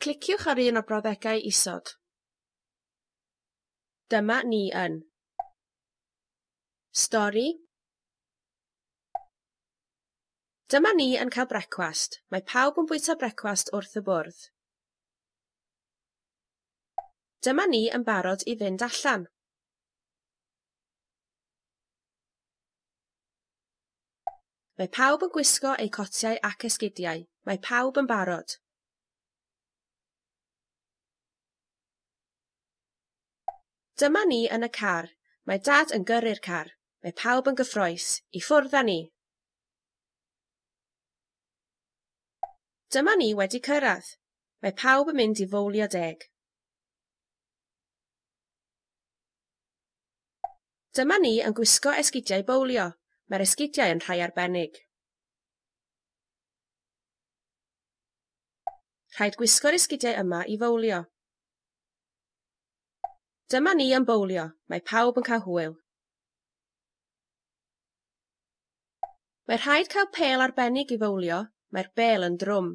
Cliciwch ar un o'r brawddegau isod. Dyma ni yn Stori Dyma ni yn cael brecwast. Mae pawb yn bwyta brecwast wrth y bwrdd. Dyma ni yn barod i fynd allan. Mae pawb yn gwisgo eu cotiau ac esgidiau. Mae pawb yn barod. Dyma ni yn y car. Mae Dad yn gyrru'r car. Mae pawb yn gyffrous. I ffwrdd â ni! Dyma ni wedi cyrraedd. Mae pawb yn mynd i fowlio deg. Dyma ni yn gwisgo esgidiau bowlio. Mae'r esgidiau yn rhai arbennig. Rhaid gwisgo'r esgidiau yma i fowlio. Dyma ni yn bowlio. Mae pawb yn cael hwyl. Mae rhaid cael pêl arbennig i fowlio. Mae'r bêl yn drwm.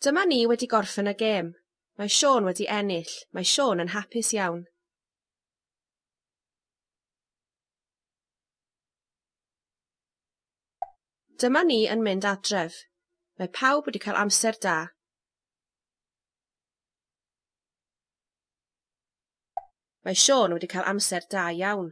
Dyma ni wedi gorffen y gêm. Mae Siôn wedi ennill. Mae Siôn yn hapus iawn. Dyma ni yn mynd adref. Mae pawb wedi cael amser da. Mae Siôn wedi cael amser da iawn.